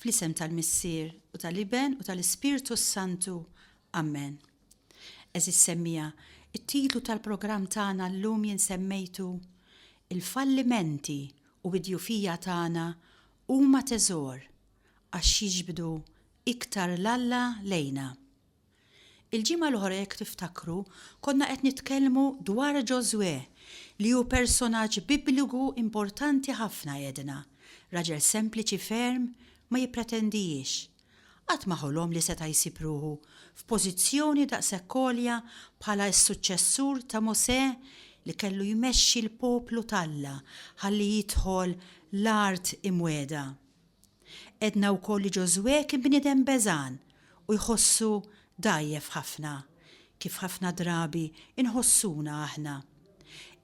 Fl-isem tal-Missier, u tal-Iben, u tal-Ispirtu s-Santu. Ammen. Għeżież semmiegħa, it-titlu tal-programm tagħna llum jien semmejtu, Il-fallimenti u d-djufija tagħna huma teżor għax jiġbdu iktar 'l Alla lejna. Il-ġimgħa l-oħra jekk tiftakru konna qed nitkellmu dwar Ġożwè li hu personaġġ bibliku importanti ħafna għedna, raġel sempliċi ferm, ma jippretendijiex. Qatt ma ħolom li seta' jsib ruħu f'pożizzjoni daqshekk għolja bħala s-suċċessur ta' Mosè li kellu jmexxi l-poplu t'Alla ħalli jidħol l-Art Imwiegħda. Għedna wkoll li Ġożwè kien bniedem beżgħan u jħossu dgħajjef ħafna, kif ħafna drabi nħossuna aħna.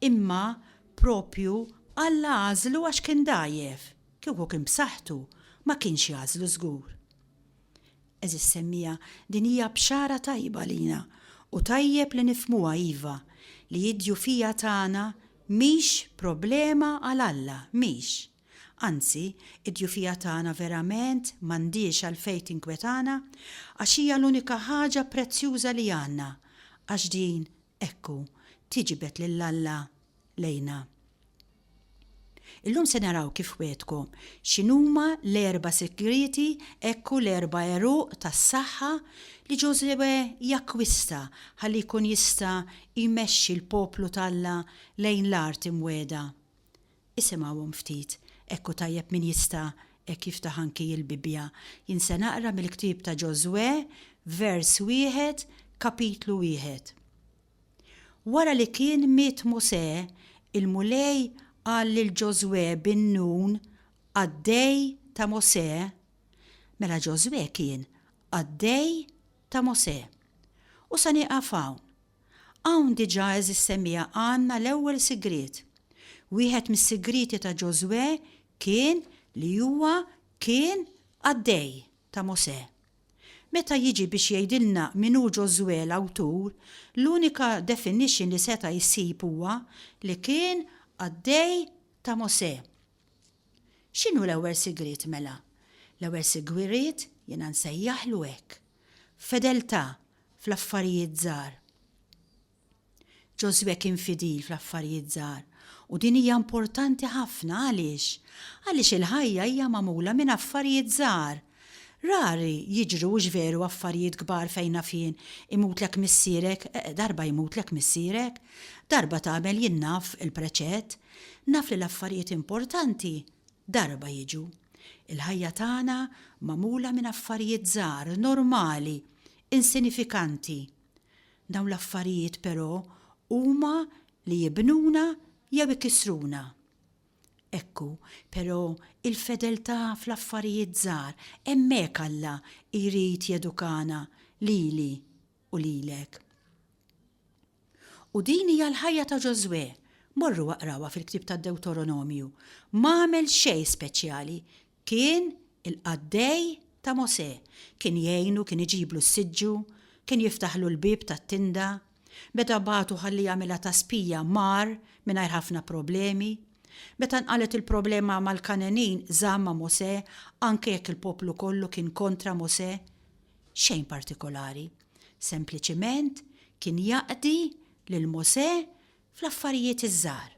Imma proprju Alla għażlu għax kien dgħajjef, kieku kien b'saħħtu, ma kienx jagħżlu żgur. Għeżież semmiegħa, din hija bxara tajba għalina u tajjeb li nifhmuha iva, li d-djufija tagħna mhix problema għal Alla, mhix. Anzi, id-djufija tagħna verament m'għandhiex għalfejn tinkwetana, għax hija l-unika ħaġa prezzjuża li għandna, għax din, ekku, tiġbed lil Alla lejna. Illum se naraw kif wegħdkom x'inhuma l-erba' sigrieti, ekku l-erba' għeruq tas-saħħa li Ġożwè jakkwista ħalli jkun jista' jmexxi l-poplu t'Alla lejn l-art imwegħda. Isimgħuhom ftit, hekk hu tajjeb min jista' hekk jiftaħ anki il-Bibbja. Jien se naqra mill-ktieb ta' Ġożwè, vers wieħed, kapitlu wieħed. Wara li kien miet Mosè, il-Mulej qal lil Ġożwè bin Nun, qaddej ta' Mosè, mela Ġożwè kien qaddej ta' Mosè. U se nieqaf hawn, Hawn diġà eżissemija għandna l-ewwel sigriet. Wieħed mis-sigrieti ta' Ġożwè kien li huwa kien qaddej ta' Mosè. Meta jiġi biex jgħidilna min hu Ġożwè l-awtur, l-unika definition li seta' jsib huwa li kien qaddej ta' Mosè. X'inhu l-ewwel sigriet mela? L-ewwel sigriet jiena nsejjaħlu hekk. Fedeltà fl-affarijiet żgħar. Ġożwè kien fidil fl-affarijiet żgħar, u din hija importanti ħafna. Għaliex? Għaliex il-ħajja hija magħmula minn affarijiet żgħar. Rari jiġru hux veru affarijiet kbar fejn naf jien, imutlek missierek, darba jmutlek missierek, darba tagħmel jien naf il-preċett. Naf li l-affarijiet importanti darba jiġu. Il-ħajja tagħna magħmula minn affarijiet żgħar, normali. insinifikanti. Dawn l-affarijiet però huma li jibnuna jew ikissruna. Ekku, però, il-fedeltà fl-affarijiet żgħar, hemmhekk Alla jrid jedukana lili u lilek. U din hija l-ħajja ta' Ġożwè. Morru aqrawha fil-ktieb tad-Dewtoronomju. M'għamel xejn speċjali, Kien il-qaddej ta' Mosè. Kien jgħinu, kien iġiblu s-siġġu, kien jiftaħlu l-bieb tat-tinda. Meta bagħtu ħalli jagħmilha ta' spija, mar mingħajr ħafna problemi. Meta nqalgħet il-problema mal-Kangħenin, żamm ma' Mosè, anke jekk il-poplu kollu kien kontra Mosè. Xejn partikolari. Sempliċiment kien jaqdi lil Mosè fl-affarijiet iż-żgħar.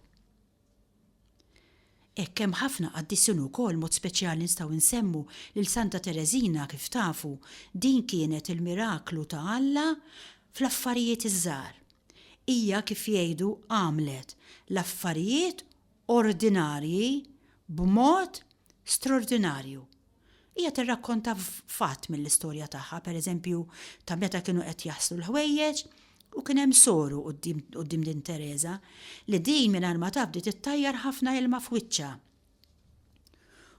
Hekk hemm ħafna qaddisin ukoll mod speċjali nistgħu nsemmu lil Santa Tereżina kif tafu din kienet il-miraklu ta' Alla fl-affarijiet iż-żgħar. Hija kif jgħidu għamlet l-affarijiet ordinarji b'mod straordinarju. Hija tirrakkonta fatt mill-istorja tagħha, pereżempju, ta' meta kienu qed jaslu l-ħwejjeġ u kien hemm soru quddiem din Tereża li din mingħajr ma taf bdiet ittajjar ħafna ilma f'wiċċha.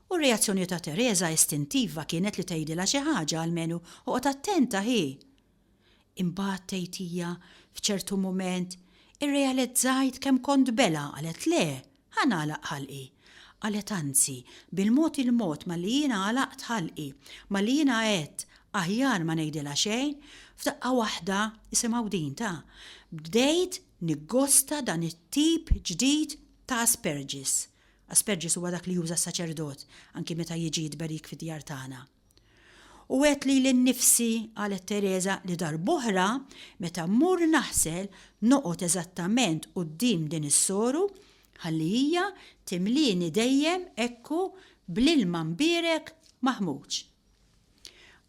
U r-reazzjoni ta' Tereża istintiva kienet li tgħidilha xi ħaġa almenu oqgħod attenta hi! Imbagħad, tgħid hija, f'ċertu mument, irrealizzajt kemm kont belha, qalet, Le, ħa nagħlaq ħalqi. Qalet, Anzi, bil-mod il-mod malli jiena għalaqt ħalqi, malli jiena għedt, Aħjar ma ngħidilha xejn, f'daqqa waħda, isimgħu din, ta, bdejt niggosta dan it-tip ġdid ta' asperġis. Asperġis huwa dak li juża s-saċerdot anki meta jiġi jitberik fid-djar tagħna. U għedt lili nnifsi, qalet Tereża, li darb'oħra, meta mmur naħsel, noqgħod eżattament quddiem din is-soru, ħalli hija timlieni dejjem hekku bl-ilma mbierek maħmuġ.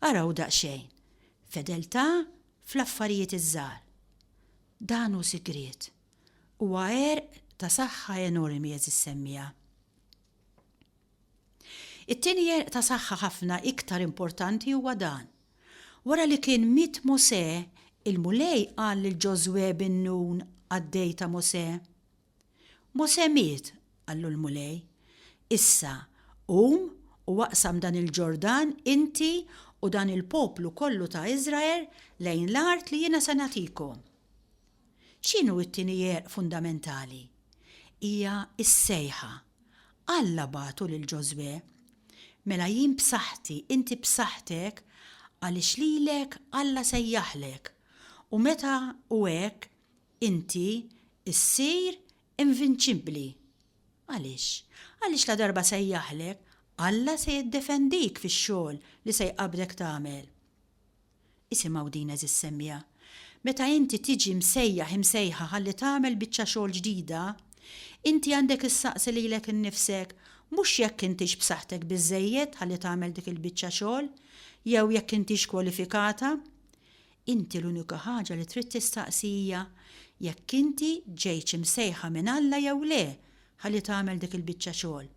Araw daqsxejn, fedeltà fl-affarijiet iż-żgħar. Dan hu sigriet. Huwa għerq ta' saħħa enormi, għeżiż semmiegħa. It-tieni għerq ta' saħħa ħafna iktar importanti huwa dan. Wara li kien miet Mosè, il-Mulej qal lil Ġożwè bin Nun, qaddej ta' Mosè. Mosè miet, qallu l-Mulej. Issa, qum u aqsam dan il-Ġordan inti u dan il-poplu kollu ta' Iżrael lejn l-art li jiena se nagħtikom. X'inhu t-tieni għerq fundamentali? Hija s-sejħa. Alla bagħtu lil Ġożwè, Mela jien b'saħħti, inti b'saħħtek, għaliex lilek Alla sejjaħlek, u meta hu hekk, inti ssir invinċibbli. Għaliex? Għaliex ladarba sejjaħlek, Alla se jiddefendik fix-xogħol li se jqabbdek tagħmel. Isimgħu din għeżież semmiegħa, meta inti tiġi msejjaħ, imsejħa ħalli tagħmel biċċa xogħol ġdida, inti għandek issaqsi lilek innifsek mhux jekk intix b'saħħtek biżżejjed ħalli tagħmel dik il-biċċa xogħol, jew jekk intix kwalifikata. Inti l-unika ħaġa li trid tistaqsi hija jekk inti ġejtx imsejħa minn Alla jew le ħalli tagħmel dik il-biċċa xogħol.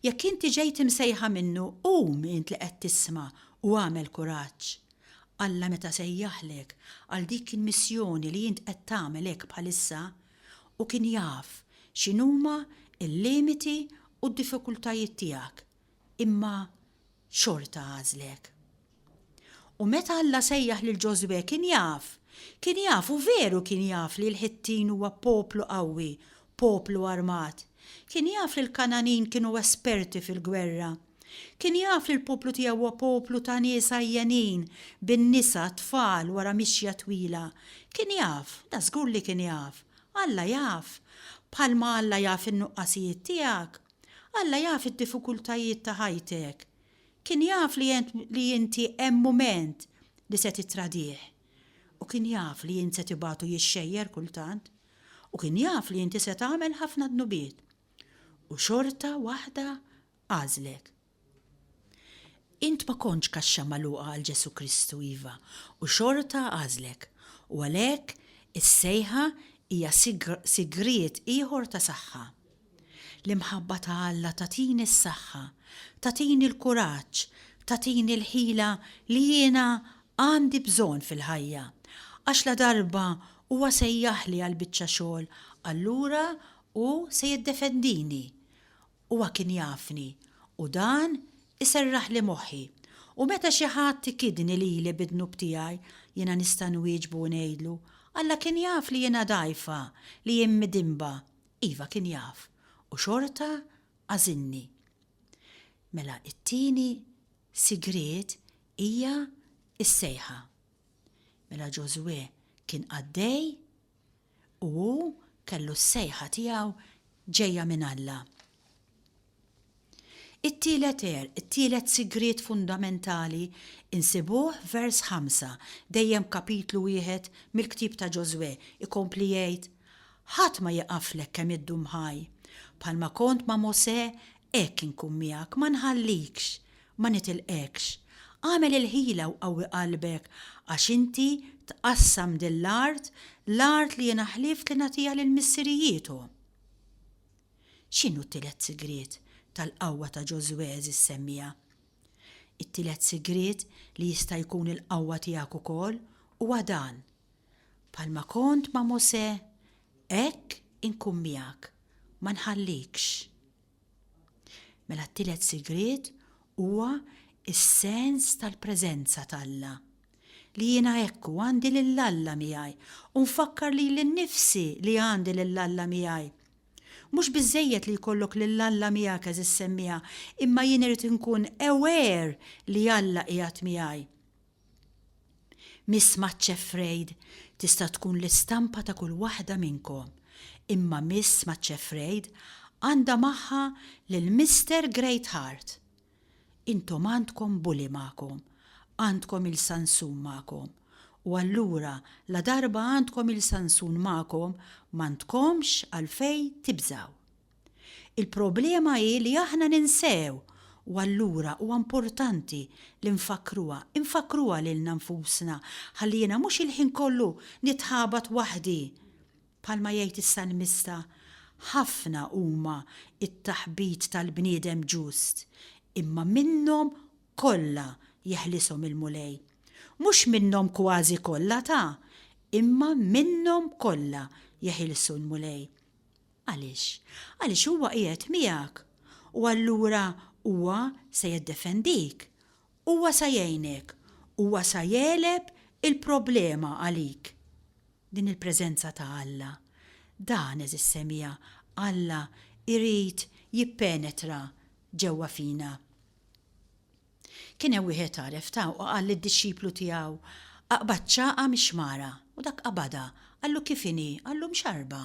Jekk inti ġejt imsejħa minnu, qum int li qed tisma' u agħmel kuraġġ. Alla meta sejjaħlek għal dik il-missjoni li int qed tagħmel hekk bħalissa, hu kien jaf x'inhuma l-limiti u d-diffikultajiet tiegħek, imma xorta għażlek. U meta Alla sejjaħ lil Ġożwè kien jaf, kien jaf u veru kien jaf li l-Ħittin huwa poplu qawwi, poplu armat. Kien jaf li l-Kangħanin kienu esperti fil-gwerra. Kien jaf li l-poplu tiegħu huwa poplu ta' nies għajjenin, bin-nisa, t-tfal, wara mixja twila. Kien jaf, da żgur li kien jaf. Alla jaf. Bħalma Alla jaf in-nuqqasijiet tiegħek. Alla jaf id-diffikultajiet ta' ħajtek. Kien jaf li int li inti hemm mument li se tittradih. U kien jaf li int se tibgħatu jixxejjer kultant. U kien jaf li inti se tagħmel ħafna dnubiet. U xorta waħda għażlek. Int ma kontx kaxxa magħluqa għal Ġesù Kristu, iva, u xorta għażlek. U għalhekk is-sejħa hija sigriet ieħor ta' saħħa. L-imħabba ta' Alla tagħtini s-saħħa, tagħtini l-kuraġġ, tagħtini l-ħila li jiena għandi bżonn fil-ħajja. Għax ladarba Huwa sejjaħli għal biċċa xogħol allura Hu se jiddefendini. Huwa kien jafni, u dan iserraħli moħħi. U meta xi ħadd ikidni lili bid-dnub tiegħi, jiena nista' nwieġbu u ngħidlu, Alla kien jaf li jiena dgħajfa, li jien midinba. Iva kien jaf, u xorta għażilni. Mela t-tieni sigriet hija s-sejħa. Mela Ġożwè kien qaddej u hu kellu s-sejħa tiegħu ġejja minn Alla. It-tielet għerq, it-tielet sigriet fundamentali nsibuh f'vers ħamsa, dejjem f'kapitlu wieħed mill-ktieb ta' Ġożwè, ikompli jgħid, Ħadd ma jieqaflek kemm iddum ħaj. Bħalma kont ma' Mosè, hekk inkun miegħek, ma nħallikx, ma nitilqekx. Agħmel il-ħila u qawwi qalbek, għax inti tqassam din l-art, l-art li jiena ħlift li nagħtiha lil missirijiethom. X'inhu t-tielet sigriet tal-qawwa ta' Ġożwè, għeżież semmiegħa? It-tielet sigriet li jista' jkun il-qawwa tiegħek ukoll huwa dan, Bħalma kont ma' Mosè, hekk inkun miegħek, ma nħallikx. Mela t-tielet sigriet huwa s-sens tal-preżenza t'Alla. Li jiena hekk u għandi lil Alla miegħi u nfakkar lili nnifsi li għandi lil Alla miegħi. Mhux biżżejjed li jkollok lil Alla miegħek għeżiż semmieha, imma jien irid inkun aware li Alla qiegħed miegħi. Miss Maccefraid tista' tkun l-istampa ta' kull waħda minnkom, imma Miss Maccefraid għandha magħha lil Mister Greatheart! Intom għandkom Bully magħkom, għandkom il-Sansun magħkom, u allura ladarba għandkom il-Sansun magħkom m'għandkomx għalfejn tibżgħu. Il-problema hi li aħna ninsew u allura huwa importanti li nfakkruha, infakkruha lilna nfusna ħalli jiena mhux il-ħin kollu nitħabat waħdi. Bħalma jgħid is-salmista, Ħafna huma t-taħbit tal-bniedem ġust, imma minnhom kollha jeħlishom il-Mulej. Mhux minnhom kważi kollha ta, imma minnhom kollha jeħilsu l-Mulej. Għaliex? Għaliex Huwa qiegħed miegħek, u allura Huwa sa jiddefendik. Huwa sa jgħinek. Huwa sa jegħleb il-problema għalik. Din il-preżenza ta' Alla. Dan, għeżież semija, Alla jrid jippenetra ġewwa fina. Kien hemm wieħed għaref ta' u qal lid-dixxiplu tiegħu, Aqbad ċagħqa mix-xmara. U dak qabadha. Qallu, Kif inhi? Qallu, Mxarrba.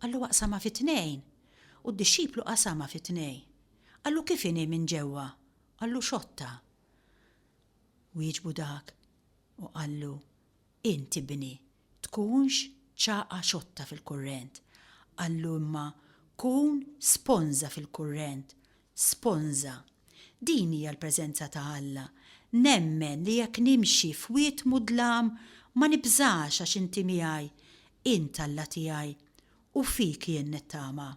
Qallu, Aqsamha fi tnejn. U d-dixxiplu qasamha fi tnejn. Qallu, Kif inhi minn ġewwa? Qallu, Xotta. Wieġbu dak u qallu, Int, ibni, tkunx ċagħqa xotta fil-kurrent, qallu imma kun sponża fil-kurrent, sponża. Din hija l-preżenza ta' Alla. Nemmen li jekk nimxi f'wied mudlam ma nibżax għax inti miegħi, int Alla tiegħi, u fik jien nittama.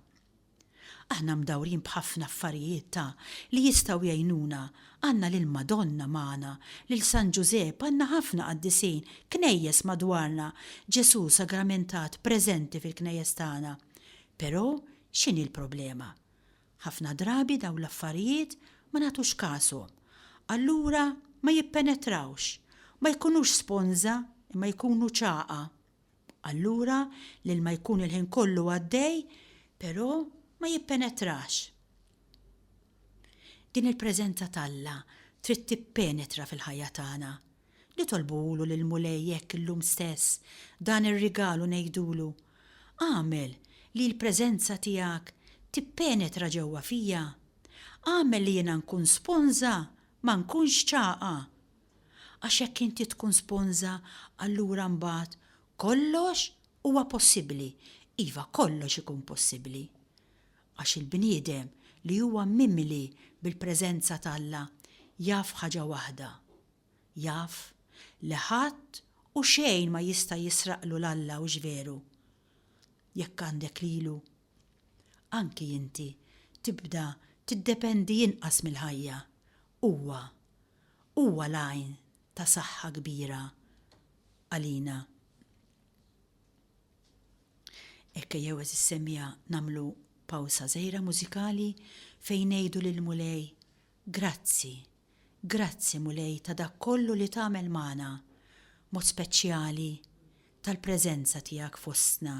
Aħna mdawrin b'ħafna affarijiet ta' li jistgħu jgħinuna, għandna lil Madonna magħna, lil San Ġużepp, għandna ħafna qaddisin, knejjes madwarna, Ġesù sagramentat preżenti fil-knejjes tagħna. Però x'inhi l-problema? Ħafna drabi dawn l-affarijiet ma nagħtux kashom. Allura ma jippenetrawx. Ma jkunux sponża imma jkunu ċagħa. Allura l-ilma jkun il-ħin kollu għaddej, però ma jippenetrax. Din il-preżenza t'Alla trid tippenetra fil-ħajja tagħna. Nitolbuhulu lill-Mulej hekk illum stess, dan ir-rigal u ngħidulu, Agħmel li l-preżenza tiegħek tippenetra ġewwa fija. Agħmel li jiena nkun sponża, ma nkunx ċagħqa. Għax jekk inti tkun sponża allura mbagħad kollox huwa possibbli. Iva, kollox ikun possibbli. Għax il-bniedem li huwa mimli bil-preżenza t'Alla jaf ħaġa waħda, jaf li ħadd u xejn ma jista' jisraqlu 'l Alla, hux veru? Jekk għandek lilu, anki inti tibda tiddependi inqas mill-ħajja. Huwa huwa l-għajn ta' saħħa kbira għalina. Hekk ejjew għeżież semmiegħa nagħmlu pawsa żgħira mużikali fejn ngħidu lill-Mulej, Grazzi, grazzi Mulej ta' dak kollu li tagħmel magħna, mod speċjali tal-preżenza tiegħek fostna.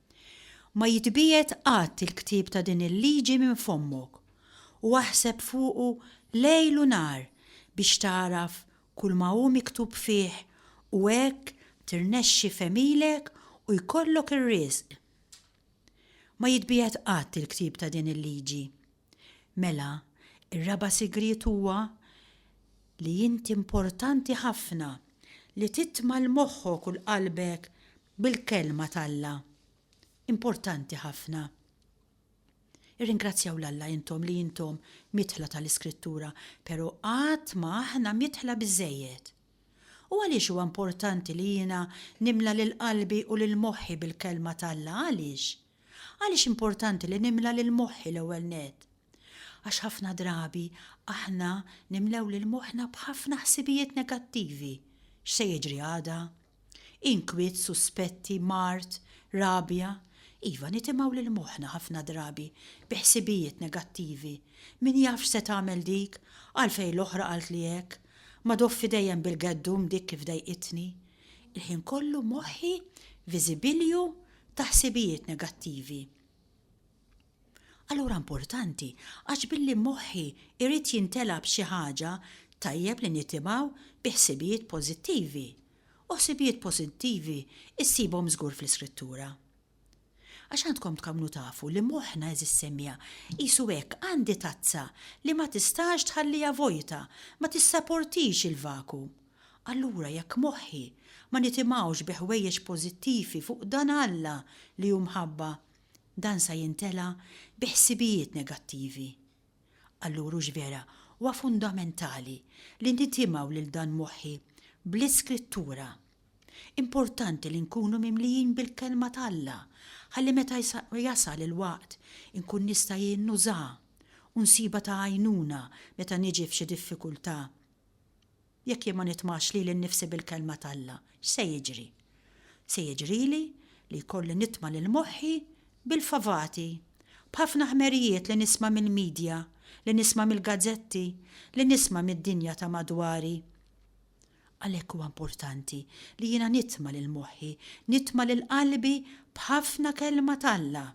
Ma jitbiegħed qatt il-ktieb ta' din il-liġi minn fommok, u aħseb fuqu lejl u nhar biex tagħraf kulma hu miktub fih u hekk tirnexxi f'għemilek u jkollok ir-riżq. Ma jitbiegħed qatt il-ktieb ta' din il-liġi. Mela, ir-raba' sigriet huwa li int importanti ħafna li titma' 'l moħħok u 'l qalbek bil-Kelma t'Alla. Importanti ħafna. Irringrazzjaw 'l Alla intom li intom miedħla ta' l-Iskrittura, pero' qatt ma aħna miedħla biżżejjed. U għaliex huwa importanti li jiena nimla lil qalbi u lil moħħi bil-Kelma t'Alla, għaliex? Għaliex importanti li nimla lil moħħi l-ewwel nett? Għax ħafna drabi aħna nimlew lil moħħna b'ħafna ħsibijiet negattivi, x'se jiġri għada? Inkwiet, suspetti, mard, rabja. Iva, nitimgħu lil moħħna ħafna drabi bi ħsibijiet negattivi, min jaf x'se tagħmel dik, għalfejn l-oħra qaltli hekk, ma doffi dejjem bil-geddum dik kif dejqitni. Il-ħin kollu moħħi viżibilju ta' ħsibijiet negattivi. Allura importanti, għax billi moħħi irrit jintela b'xi ħaġa, tajjeb li nitimaw bi ħsibijiet pożittivi. U ħsibijiet pożittivi issibhom żgur fl-Iskrittura. Għax għandkom tkamnu tafu li moħħna eżis semija, qisu hekk għandi tazza li ma tistax tħallija vojta, ma tissaportix il-vaku. Allura jekk moħħi ma nitimgħux bi ħwejjeġ pożittivi fuq dan Alla li hu mħabba, dan sa jintela' bi ħsibijiet negattivi. Allura hux vera huwa fundamentali li nitimgħu lil dan moħħi bl-Iskrittura? Importanti li nkunu mimlijin bil-Kelma t'Alla ħalli meta jasal il-waqt inkun nista' jien nużaha u nsibha ta' għajnuna meta niġi f'xi diffikultà Jekk jien ma nitmax lili nnifsi bil-Kelma t'Alla, x'se jiġri? Se jiġrili li jkolli nitma' lil moħħi bil-favati, b'ħafna ħmerijiet li nisma' mill-midja, li nisma' mill-gazzetti, li nisma' mid-dinja ta' madwari. Għalhekk huwa importanti li jiena nitma' lil moħħi, nitma' lil qalbi b'ħafna Kelma t'Alla.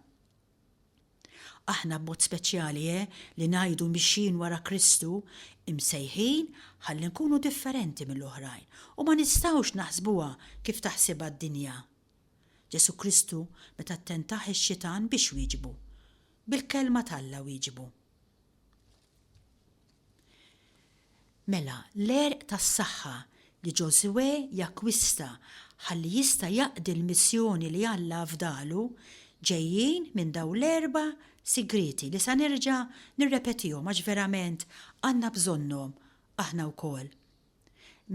Aħna b'mod speċjali, eh, li ngħidu mixjin wara Kristu, imsejħin ħalli nkunu differenti mill-oħrajn u ma nistgħux naħsbuha kif taħsibha d-dinja. Ġesù Kristu meta ttentah ix-Xitan biex wieġbu? Bil-Kelma t'Alla wieġbu. Mela, l-għerq tas-saħħa li Ġożwè jakkwista ħalli jista' jaqdi l-missjoni li Alla afdalu ġejjin minn dawn l-erba' sigrieti li sa nerġa' nirrepetihom għax verament għandna bżonnhom aħna wkoll.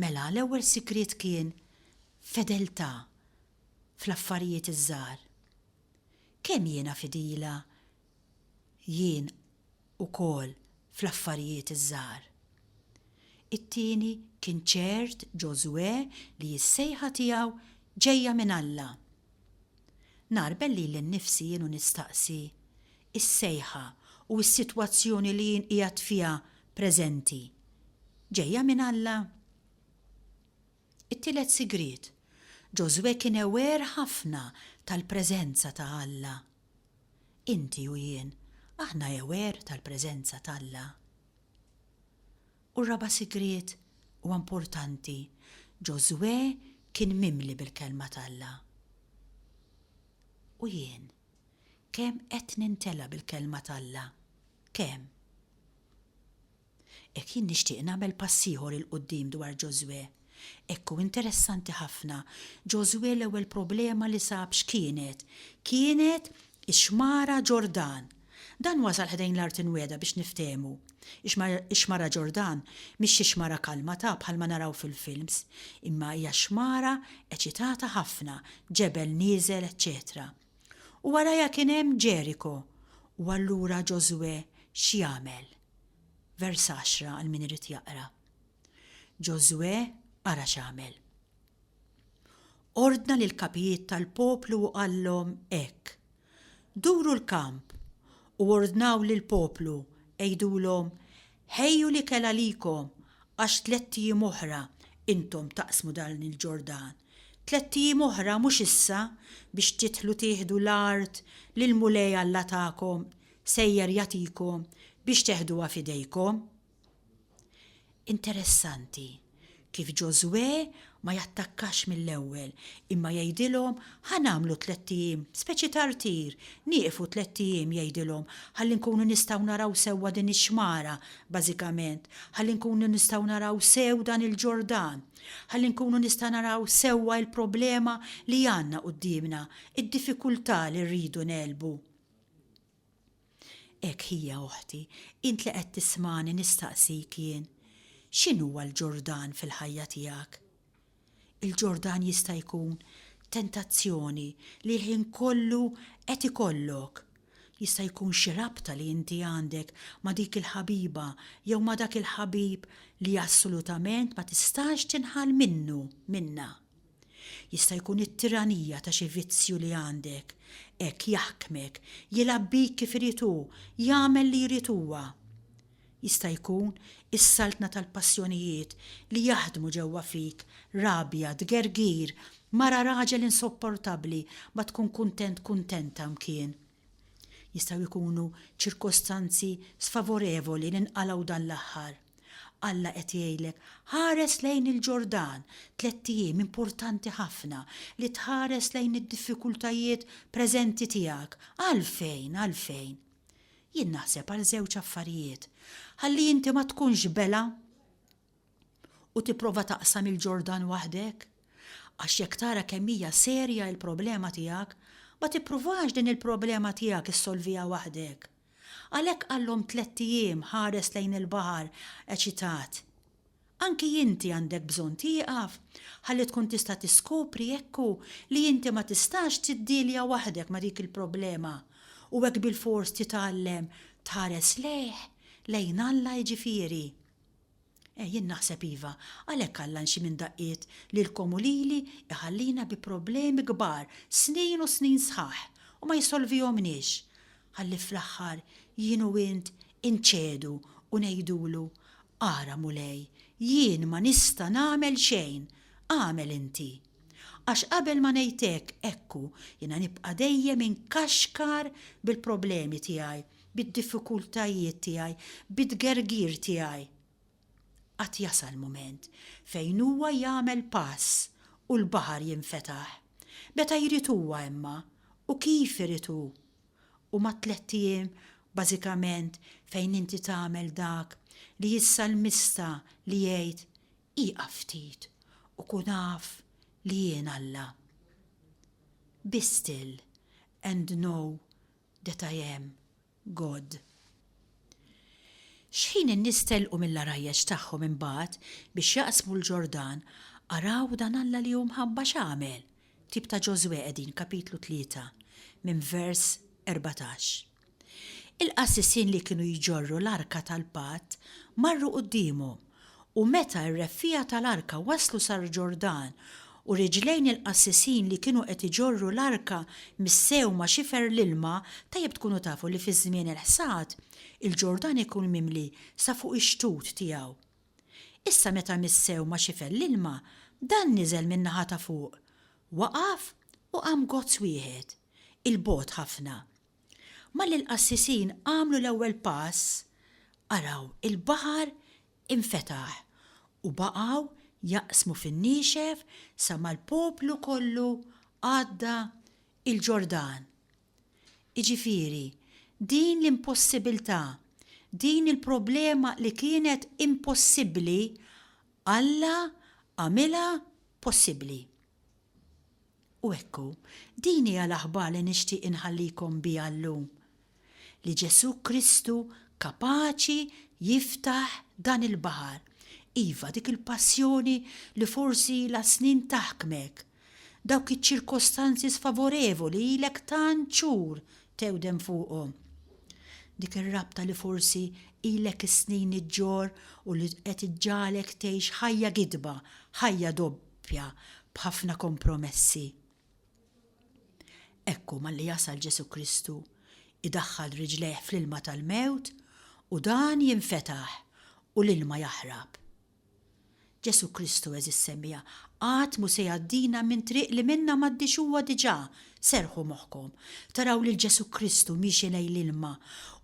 Mela, l-ewwel sigriet kien fedeltà fl-affarijiet iż-żgħar. Kemm jiena fidila Jien ukoll fl-affarijiet iż-żgħar. It-tieni kien ċert Ġożwè li s-sejħa tiegħu ġejja minn Alla. Ngħarbel lili nnifsi jien u nistaqsi, Is-sejħa u s-sitwazzjoni li jien qiegħed fiha preżenti, ġejja minn Alla? It-tielet sigriet, Ġożwè kien aware ħafna tal-preżenza ta' Alla. Inti u jien, aħna aware tal-preżenza t'Alla? U r-raba' sigriet, huwa importanti, Ġożwè kien mimli bil-Kelma t'Alla. U jien, kemm qed nintela' bil-Kelma t'Alla? Kemm? Hekk jien nixtieq nagħmel pass ieħor 'il quddiem dwar Ġożwè. Hekk hu interessanti ħafna, Ġożwè l-ewwel problema li sab x'kienet? Kienet ix-Xmara Ġordan. Dan wasal ħdejn l-Art Imwiegħda biex niftehmu. Ix-Xmara Ġordan mhix xi xmara kalma ta' bħalma naraw fil-films, imma hija xmara eċitata ħafna, ġebel nieżel eċċetera. U warajha kien hemm Ġeriko. U allura Ġożwè x'jagħmel? Vers 10 għal min irid jaqra. Ġożwè ara x'għamel. Ordna lil kapijiet tal-poplu u qallhom hekk. Duru l-kamp u ordnaw lil poplu għidulhom ħejju l-ikel għalikom għax tlett ijiem oħra intom taqsmu dan il-Ġordan. Tlett ijiem oħra mhux issa biex tidħlu tieħdu l-art li l-Mulej Alla tagħkom Sejjer jagħtikom biex teħduha f'idejkom. Interessanti kif Ġożwè ma jattakkax mill-ewwel imma jgħidilhom ħa nagħmlu tlett ijiem, speċi ta' rtir, nieqfu tlett ijiem jgħidilhom ħalli nkunu nistgħu naraw sewwa din ix-xmara, bażikament, ħalli nkunu nistgħu naraw sew dan il-Ġordan, ħalli nkunu nista' naraw sewwa l-problema li għandna quddiemna, id-diffikultà li rridu ngħelbu. Hekk hija, oħti, int li qed tismagħni nistaqsik jien, x'inhuwa l-Ġordan fil-ħajja tiegħek? Il-Ġordan jista' jkun tentazzjoni li l-ħin kollu qed ikollok, jista' jkun xi rabta li inti għandek ma' dik il-ħabiba jew ma' dak il-ħabib li assolutament ma tistax tinħall minnu, minnha. Jista' jkun it-tiranija ta' xi vizzju li għandek hekk jaħkmek, jilgħab bik kif irid hu, jagħmel li jrid huwa. Jista' jkun is-saltna tal-passjonijiet li jaħdmu ġewwa fik, rabja, tgergir, mara raġel insopportabbli ma tkun kuntent kuntenta mkien. Jistgħu jkunu ċirkostanzi sfavorevoli li nqalgħu dan l-aħħar. Alla qed jgħidlek, ħares lejn il-Ġordan, tlett ijiem importanti ħafna li tħares lejn id-diffikultajiet preżenti tiegħek. Għalfejn? Għalfejn? Jien naħseb għal żewġ affarijiet. Ħalli inti ma tkunx bela u tipprova taqsam il-Ġordan waħdek. Għax jekk tara kemm hija serja il-problema tiegħek, ma tippruvax din il-problema tiegħek issolviha waħdek. Għalhekk għallhom tlett ijiem ħares lejn il-baħar eċitat. Anki inti għandek bżonn tieqaf ħalli tkun tista' tiskopri jekk hu li inti ma tistax tiddielja waħdek ma' dik il-problema u hekk bilfors titgħallem tħares lejh, lejn Alla jiġifieri. Eh, jien naħseb iva, għalhekk Alla nxi minn daqqiet lilkom u lili jħallina bi problemi kbar snin u snin sħaħ u ma jsolvihomniex, ħalli fl-aħħar jien u int inċedu u ngħidulu, 'Ara, Mulej, jien ma nista' nagħmel xejn, agħmel inti! Għax qabel ma ngħid hekk, ekku, jiena nibqa' dejjem inkaxkar bil-problemi tiegħi, bid-diffikultajiet tiegħi, bit-tgergir tiegħi. Qatt jasal mument fejn Huwa jagħmel pass u l-baħar jinfetaħ. Meta jrid Huwa imma, u kif irid Hu. Huma t-tlett ijiem, bażikament, fejn inti tagħmel dak li s-salmista li jgħid, Ieqaf ftit u kun af li jien Alla. Be still and know that I am God. X'ħin in-nies telqu mill-għarajjeġ tagħhom imbagħad biex jaqsmu l-Ġordan, araw dan Alla li hu mħabba x'għamel, ktieb ta' Ġożwè qegħdin kapitlu tlieta minn vers erbatax. Il-qassisin li kienu jġorru l-arka tal-patt marru quddiemu, u meta r-reffiegħa tal-arka waslu sal-Ġordan u riġlejn il-qassisin li kienu qed iġorru l-arka missew ma' xifer l-ilma, tajjeb tkunu tafu li fi żmien il-ħsad, il-Ġordan ikun mimli sa fuq ix-xtut tiegħu. Issa meta missew ma' xifer l-ilma, dan niżel min-naħa ta' fuq, waqaf u qam gozz wieħed, 'il bogħod ħafna, Malli l-qassisin għamlu l-ewwel pass, araw il-baħar infetaħ u baqgħu jaqsmu fin-niexef sa ma l-poplu kollu għadda l-Ġordan. Jiġifieri, din l-impossibilità, din il-problema li kienet impossibbli, Alla għamilha possibbli. U ekku, din hija l-aħbar li nixtieq inħallikom biha llum, li Ġesù Kristu kapaċi jiftaħ dan il-baħar, iva, dik il-passjoni li forsi ilha snin taħkmek, dawk iċ-ċirkostanzi sfavorevoli ilek tant xhur tewdem fuqhom, dik ir-rabta li forsi ilek is-snin iġġorr u li qed iġġagħlek tgħix ħajja gidba, ħajja doppja b'ħafna kompromessi. Ekku malli jasal Ġesu' Kristu, idaħħal riġlejh fl-ilma tal-mewt u dan jinfetaħ u l-ilma jaħrab. Ġesu' Kristu, għeżież semmiegħa, qatt mhu se jgħaddina minn triq li minnha m'għaddiex huwa diġà Serrħu moħħkom, taraw lil Ġesù Kristu miexi lejn l-ilma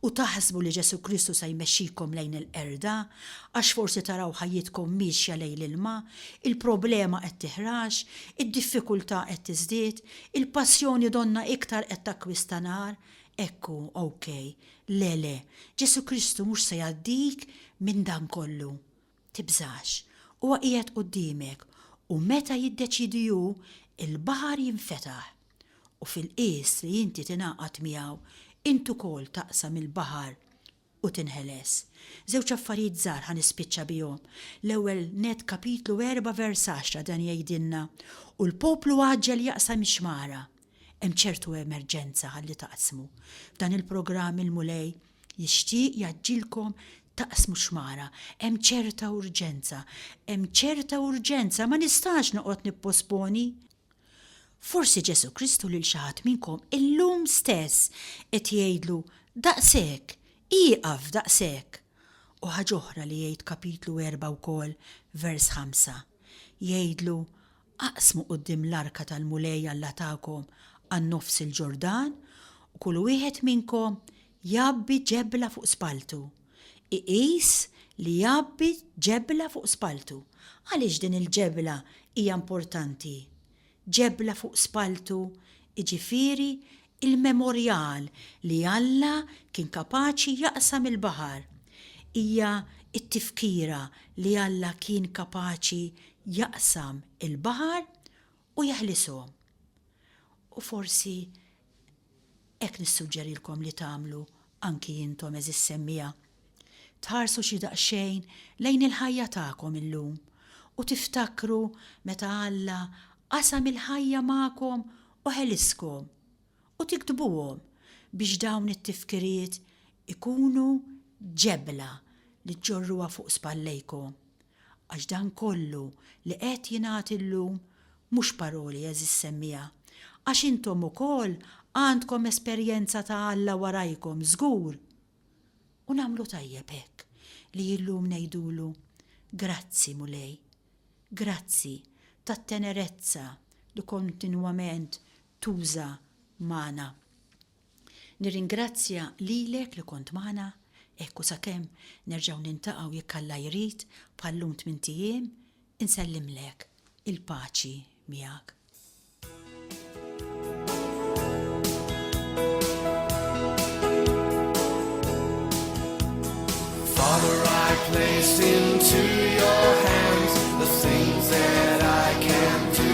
u taħsbu li Ġesù Kristu se jmexxikom lejn il-qerda, għax forsi taraw ħajjitkom miexja lejn l-ilma, il-problema qed tiħrax, id-diffikultà qed tiżdied, il-passjoni donnha iktar qed takkwista nar, hekk hu, OK. Le, le, Ġesù Kristu mhux se jgħaddik minn dan kollu. Tibżax, huwa qiegħed quddiemek, u meta jiddeċiedi hu, il-baħar jinfetaħ. U fil-qies li inti tingħaqad miegħu, int ukoll taqsam il-baħar u tinħeles. Żewġ affarijiet żgħar ħa nispiċċa bihom. L-ewwel nett Kapitlu erba' vers għaxra dan jgħidilna, U l-poplu għaġġel jaqsam ix-xmara. Hemm ċertu emerġenza ħalli taqsmu. F'dan il-programm il-Mulej jixtieq jgħaġġilkom taqsmu xmara. Hemm ċerta urġenza. Hemm ċerta urġenza, ma nistax noqgħod nipposponi. Forsi Ġesu Kristu lil xi ħadd minnkom illum stess qed jgħidlu daqshekk, ieqaf daqshekk. U ħaġa oħra li jgħid kapitlu erba' wkoll, vers ħamsa. Jgħidlu Aqsmu quddiem l-arka tal-Mulej Alla tagħkom għan-nofs il-Ġordan u kull wieħed minnkom jgħabbi ġebla fuq spalltu. Iqis li jgħabbi ġebla fuq spalltu. Għaliex din il-ġebla hija importanti? Ġebla fuq spalltu jiġifieri Il-memorjal li Alla kien kapaċi jaqsam il-baħar hija t-tifkira li Alla kien kapaċi jaqsam il-baħar u jeħlishom. U forsi hekk nissuġġerilkom li tagħmlu anki intom għeżież semmiegħa, tħarsu xi daqsxejn lejn il-ħajja tagħkom illum u tiftakru meta Alla qasam il-ħajja magħkom u ħeliskom, u tiktbuhom biex dawn it-tifkiriet ikunu ġebla li ġġorruha fuq spallejkom. Għax dan kollu li qed jingħad illum mhux paroli għeżież semmiegħa, għax intom ukoll għandkom esperjenza ta' Alla warajkom żgur! U nagħmlu tajjeb hekk li illum ngħidulu, Grazzi Mulej, grazzi tat-tenerezza li kontinwament tuża magħna. Nirringrazzja lilek li kont magħna, hekk u sakemm nerġgħu niltaqgħu jekk Alla jrid bħal lum tmint ijiem, insellimlek il-paċi miegħek. Father, I place into your hands the things that I can do.